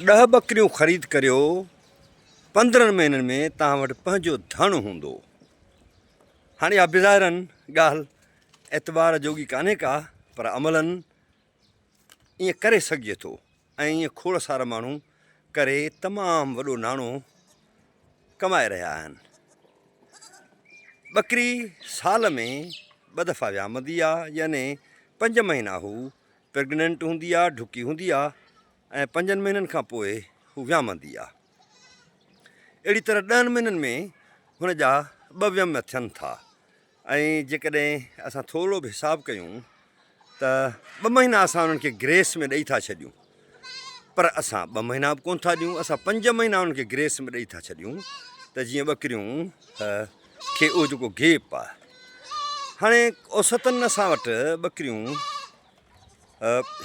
ڏهه ٻڪريون خريد ڪريو، پندرهن مهينن ۾ توهان وٽ پنهنجو ڌڻ هوندو. هاڻي اها بظاهراً ڳالهه اعتبار جوڳي ڪانهي ڪا پر عملاً ائين ڪري سگهجي ٿو ۽ ائين کوڙ سارا ماڻهو ڪري تمام وڏو ناڻو ڪمائي رهيا آهن. ٻڪري سال ۾ ٻه دفعا ويامندي آ يعني پنج مهينا هو پريگننٽ هوندي آ، ڍڪي هوندي آ ۽ پنجن مهينن کان پوء هو ويامندي آ. اهڙي طرح ڏهن مهينن ۾ هن جا ٻه ويم ٿين ٿا ۽ جيڪڏهن اسان ٿورو به حساب ڪيون ته ٻه مهينا اسان انهن کي گريس ۾ ڏئي ٿا ڇڏيون پر اسان ٻه مهينا به ڪونه ٿا ڏيون اسان پنج مهينا انهن کي گريس ۾ ڏئي ٿا ڇڏيون ته جيئن ٻڪريون کي اهو جيڪو گيپ آ هاڻي اوسطن اسان وٽ ٻڪريون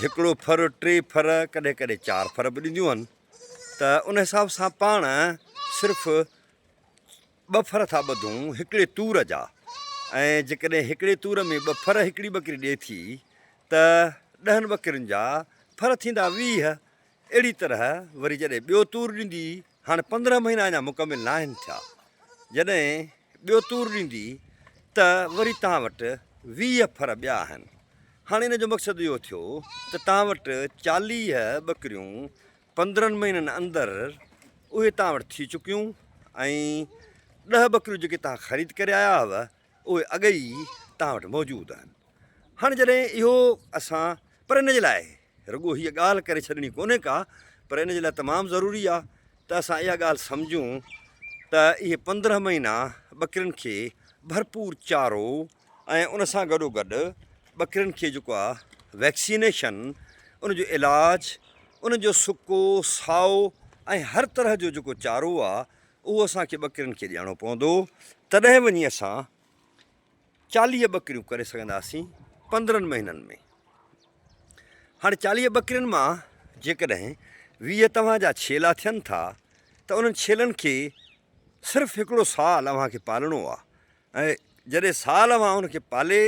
هڪڙو ڦر ٽي ڦر ڪڏهن ڪڏهن چار ڦر به ڏينديون آهن ته ان حساب سان پاڻ صرف ٻه ڦر ٿا ٻڌون هڪڙي تور جا ۽ جيڪڏهن هڪڙي تور ۾ ٻه ڦر هڪڙي ٻڪري ڏئي ٿي ته ڏهن ٻڪرين جا ڦر ٿيندا ويهه اهڙي طرح وري جڏهن ٻيو تور ڏيندي، هاڻ پندرهن مهينا اڃا مڪمل ناهن ٿيا، جڏهن ٻيو تور ڏيندي ته وري توهان وٽ ويهه ڦر ٻيا آهن. هاڻ ان جو مقصد اهو ٿيو ته توهان وٽ چاليهه ٻڪريون پندرهن مهينن اندر اهي توهان وٽ ٿي چڪيون ۽ ڏهه ٻڪريون جيڪي توهان خريد ڪري آيا هئو اهي اڳ ئي توهان وٽ موجود آهن. هاڻ جڏهن اهو اسان پر ان جي لاء رڳو هيء ڳالهه ڪري ڇڏڻي ڪونهي ڪا پر ان جي لاء تمام ضروري آهي ته اسان اها ڳالهه سمجهون ته اهي پندرهن مهينا ٻڪرين کي ڀرپور چارو ۽ ان سان گڏو گڏ ٻڪرين کي جيڪو آهي ويڪسينيشن ان جو علاج ان جو سڪو سائو ۽ هر طرح جو جيڪو چارو آهي اهو اسان کي ٻڪرين کي ڏيڻو پوندو تڏهن وڃي اسان چاليهه ٻڪريون ڪري سگهنداسين پندرهن مهينن ۾ هاڻي چاليهه ٻڪرين مان جيڪڏهن ويهه توهان جا ڇيلا ٿين ٿا ته انهن ڇيلن کي صرف هڪڙو سال اوهان کي پالڻو آهي ۽ جڏهن سال اوهان ان کي پالي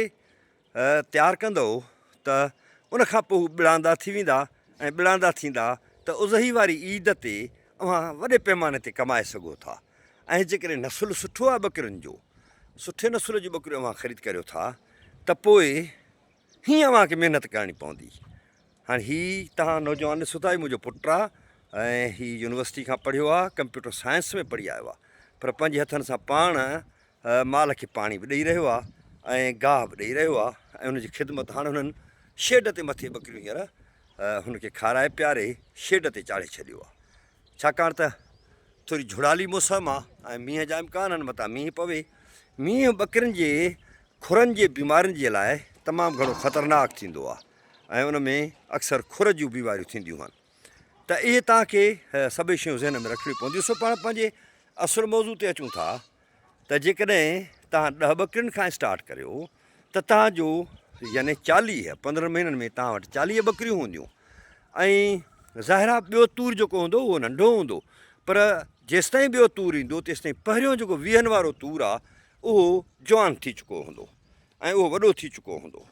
تيار ڪندو ته ان کان پوء ٻڙاندا ٿي ويندا ۽ ٻڙاندا ٿيندا ته اضحي واري عيد تي اوهان وڏي پيماني تي ڪمائي سگهو ٿا ۽ جيڪڏهن نسل سٺو آهي ٻڪرين جو، سٺي نسل جون ٻڪريون اوهان خريد ڪريو ٿا ته پوء هينئن اوهان کي محنت ڪرڻي پوندي. هاڻ هي توهان نوجوان ڏسو ٿا، هي منهنجو پٽ آهي ۽ هي يونيورسٽي کان پڙهيو آهي، ڪمپيوٽر سائنس ۾ پڙهي آيو آهي پر پنهنجي هٿن سان پاڻ مال کي پاڻي به ڏئي رهيو آهي ۽ گاهه به ڏئي رهيو آهي ۽ ان جي خدمت هاڻ هنن شيڊ تي مٿي ٻڪريون هينئر هن کي کارائي پياري شيڊ تي چاڙهي ڇڏيو آهي. ڇاڪاڻ ته ٿوري جھڙالي موسم آ ۽ مينهن جا امڪان آهن متان مينهن پوي. مينهن ٻڪرين جي کھرن جي بيمارين جي لاء تمام گھڻو خطرناڪ ٿيندو آ ۽ ان ۾ اڪثر کھر جون بيماريون ٿينديون آهن ته اهي توهان کي سڀئي شيون ذهن ۾ رکڻيون پونديون سو پاڻ پنهنجي اصل موضوع تي اچون ٿا ته جيڪڏهن توهان ڏهه ٻڪرين کان اسٽارٽ ڪريو ته توهان جو يعني چاليهه پندرهن مهينن ۾ توهان وٽ چاليهه ٻڪريون هونديون ۽ ظاهر آهي ٻيو تور جيڪو هوندو اهو ننڍو هوندو پر جيستائين ٻيو تور ايندو تيستائين پهريون جيڪو ويهن وارو تور آهي اهو جوان ٿي چڪو هوندو ۽ اهو وڏو ٿي چڪو هوندو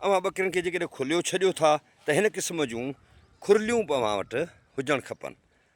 اوهان ٻڪرين کي جيڪڏهن کليو ڇڏيو ٿا ته هن قسم جون کورليون به اوهان وٽ هجڻ کپن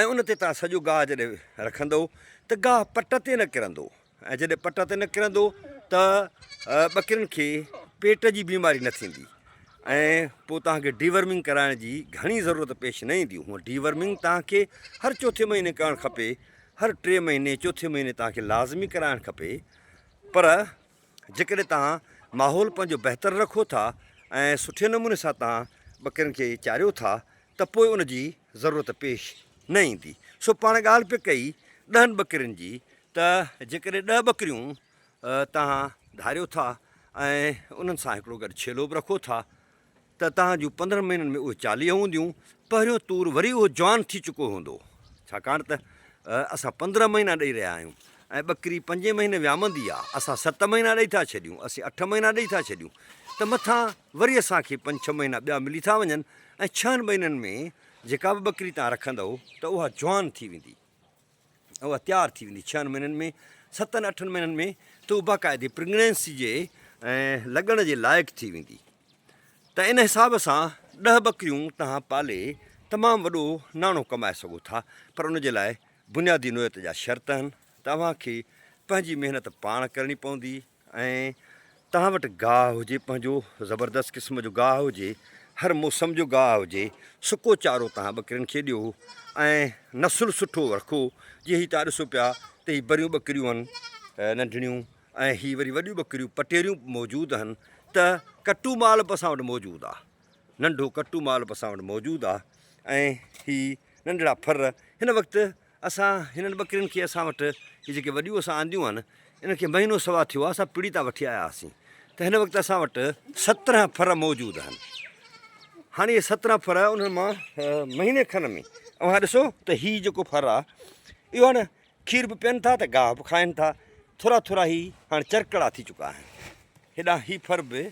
۽ ان تي توهان سڄو گاهه جڏهن رکندؤ ته گاهه پٽ تي نه ڪرندو ۽ جڏهن پٽ تي نه ڪرندو ته ٻڪرين کي پيٽ جي بيماري نه ٿيندي ۽ پوء توهان کي ڊي ورمنگ ڪرائڻ جي گهڻي ضرورت پيش نه ايندي هونء ڊي ورمنگ توهان کي هر چوٿين مهيني ڪرڻ کپي هر ٽي مهيني چوٿين مهيني توهان کي لازمي ڪرائڻ کپي پر جيڪڏهن توهان ماحول پنهنجو بهتر رکو ٿا ۽ سٺي نموني سان توهان ٻڪرين کي چاريو ٿا ته پوء ان جي ضرورت پيش نه ايندي. سو پاڻ ڳالهه پئي ڪئي ڏهن ٻڪرين جي ته جيڪڏهن ڏهه ٻڪريون توهان ڌاريو ٿا ۽ انهن سان هڪڙو گڏ ڇيلو به رکو ٿا ته توهان جون پندرهن مهينن ۾ اهي چاليهه هونديون، پهريون طور وري اهو جوان ٿي چڪو هوندو، ڇاڪاڻ ته اسان پندرهن مهينا ڏئي رهيا آهيون ۽ ٻڪري پنجين مهيني ويامندي آ، اسان ست مهينا ڏئي ٿا ڇڏيون، اسين اٺ مهينا ڏئي ٿا ڇڏيون ته مٿان وري اسان کي پنج ڇهه مهينا ٻيا ملي ٿا وڃن ۽ ڇهن مهينن ۾ جيڪا به ٻڪري توهان رکندؤ ته اها جوان ٿي ويندي. اها تيار ٿي ويندي ڇهن مهينن ۾ ستن اٺن مهينن ۾ ته اها باقاعدي پريگنينسي جي لڳڻ جي لائق ٿي ويندي ته ان حساب سان ڏهه ٻڪريون توهان پالي تمام وڏو ناڻو ڪمائي سگهو ٿا پر ان جي لاء بنيادي نوعيت جا شرط آهن ته اوهان کي پنهنجي محنت پاڻ ڪرڻي پوندي ۽ توهان وٽ گاهه هجي پنهنجو زبردست قسم جو گاهه هجي هر موسم جو گاهه هجي سڪو چارو توهان ٻڪرين کي ڏيو ۽ نسل سٺو رکو جي هي توهان ڏسو پيا ته هي بريون ٻڪريون هن ننڍڙيون ۽ هي وري وڏيون ٻڪريون پٽيريون به موجود هن ته ڪٽو مال به اسان وٽ موجود آ ننڍو ڪٽو مال به اسان وٽ موجود آ ۽ هي ننڍڙا ڦر هن وقت اسان هنن ٻڪرين کي اسان وٽ هي جيڪي وڏيون اسان آنديون آهن انهن کي مهينو سوا ٿيو آهي اسان پڙي تان وٺي آيا هئاسين ته هن وقت اسان وٽ سترهن ڦر موجود آهن هاڻي اهي سترهن ڦر انهن مان مهيني کن ۾ اوهان ڏسو ته هي جيڪو ڦر آهي اهو هاڻي کير به پين ٿا ته گاهه به کائن ٿا ٿورا ٿورا هي هاڻي چرڪڙا ٿي چڪا آهن هيڏانهن هي ڦر به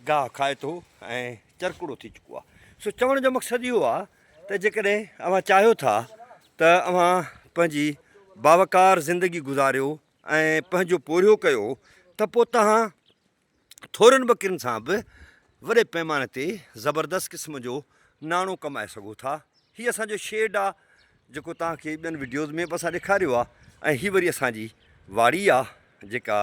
گاهه کائي ٿو ۽ چرڪوڙو ٿي چڪو آهي سو چوڻ جو مقصد اهو آهي ته جيڪڏهن اوهان چاهيو ٿا ته اوهان پنهنجي باوقار زندگي گذاريو ۽ پنهنجو پورهيو ڪيو ته پوء توهان ٿورين ٻڪرين سان به وڏي پيماني تي زبردست قسم جو ناڻو ڪمائي سگهو ٿا هي اسان جو شيڊ آهي جيڪو توهان کي ٻين وڊيوز ۾ به اسان ڏيکاريو آ ۽ هي وري اسان جي واڙي آ جيڪا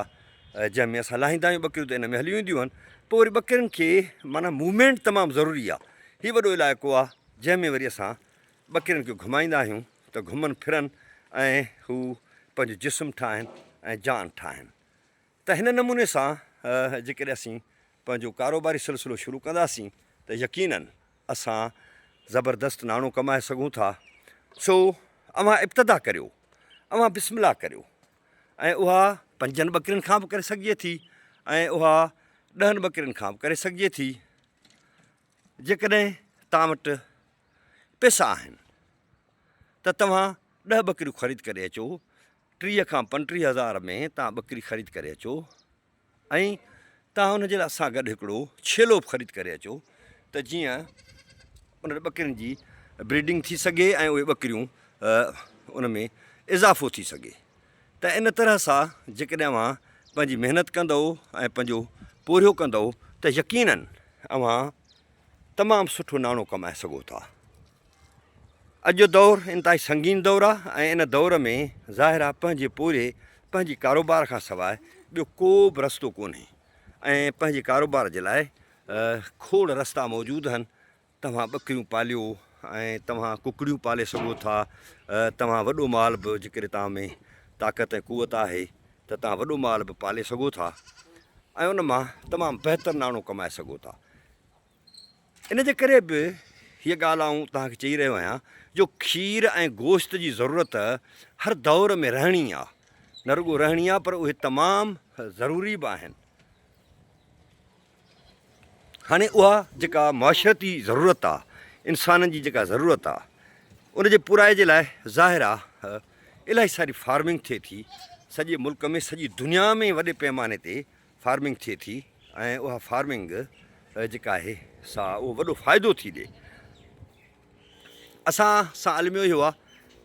جنهن ۾ اسان لاهيندا آهيون ٻڪريون ته ان ۾ هليون اينديون آهن پوء وري ٻڪرين کي معنيٰ موومينٽ تمام ضروري آ هي وڏو علائقو آ جنهن ۾ وري اسان ٻڪرين کي گهمائيندا آهيون ته گهمن ڦرن ۽ هو پنهنجو جسم ٺاهن ۽ جان ٺاهن ته هن نموني سان جيڪڏهن اسين پنهنجو ڪاروباري سلسلو شروع ڪنداسين ته يقيناً اسان زبردست ناڻو ڪمائي سگهون ٿا سو اوهان ابتدا ڪريو اوهان بسم الله ڪريو ۽ اها پنجن ٻڪرين کان به ڪري سگهجي ٿي ۽ اها ڏهن ٻڪرين کان به ڪري سگهجي ٿي جيڪڏهن توهان وٽ پيسا آهن ته توهان ڏهه ٻڪريون خريد ڪري اچو، ٽيهه کان پنٽيهه هزار ۾ توهان ٻڪري خريد ڪري اچو ۽ توهان ان جي لاء سان گڏ هڪڙو ڇيلو به خريد ڪري اچو ته جيئن انهن ٻڪرين جي بريڊنگ ٿي سگهي ۽ اهي ٻڪريون ان ۾ اضافو ٿي سگهي ته ان طرح سان جيڪڏهن اوهان پنهنجي محنت ڪندؤ ۽ پنهنجو پورهيو ڪندؤ ته يقينن اوهان تمام سٺو ناڻو ڪمائي سگهو ٿا. اڄ جو دور انتهائي سنگين دور آ ۽ ان دور ۾ ظاهر آ پنهنجي پورهيي پنهنجي ڪاروبار کان سواء ٻيو ڪو به رستو ڪونهي ۽ پنهنجي ڪاروبار جي لاء کوڙ رستا موجود هن توهان ٻڪريون پاليو ۽ توهان ڪڪڙيون پالي سگهو ٿا توهان وڏو مال به جيڪڏهن توهان ۾ طاقت ۽ قوت آهي ته توهان وڏو مال به پالي سگهو ٿا ۽ ان مان تمام بهتر ناڻو ڪمائي سگهو ٿا ان جي ڪري به هيء ڳالهه آئون توهان کي چئي رهيو آهيان جو کير ۽ گوشت جي ضرورت هر دور ۾ رهڻي آ، نه رڳو رهڻي آ پر اهي تمام ضروري به آهن. هاڻي اها جيڪا معاشرتي ضرورت آ، انسانن جي جيڪا ضرورت آ، ان جي پورائي جي لاء ظاهر آ الاهي ساري فارمنگ ٿئي ٿي، سڄي ملڪ ۾ سڄي دنيا ۾ وڏي پيماني تي فارمنگ ٿئي ٿي ۽ اها فارمنگ جيڪا آهي سا اهو وڏو فائدو ٿي ڏي اسان سان علميو اهو آهي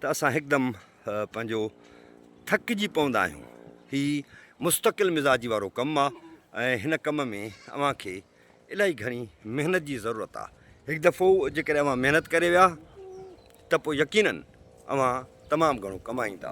ته اسان هڪدم پنهنجو ٿڪجي پوندا آهيون هي مستقل مزاجي وارو ڪم آهي ۽ هن ڪم ۾ اوهان کي الاهي گهڻي محنت جي ضرورت آهي هڪ دفعو جيڪڏهن اوهان محنت ڪري ويا ته پوء يقينن اوهان تمام گهڻو ڪمائيندا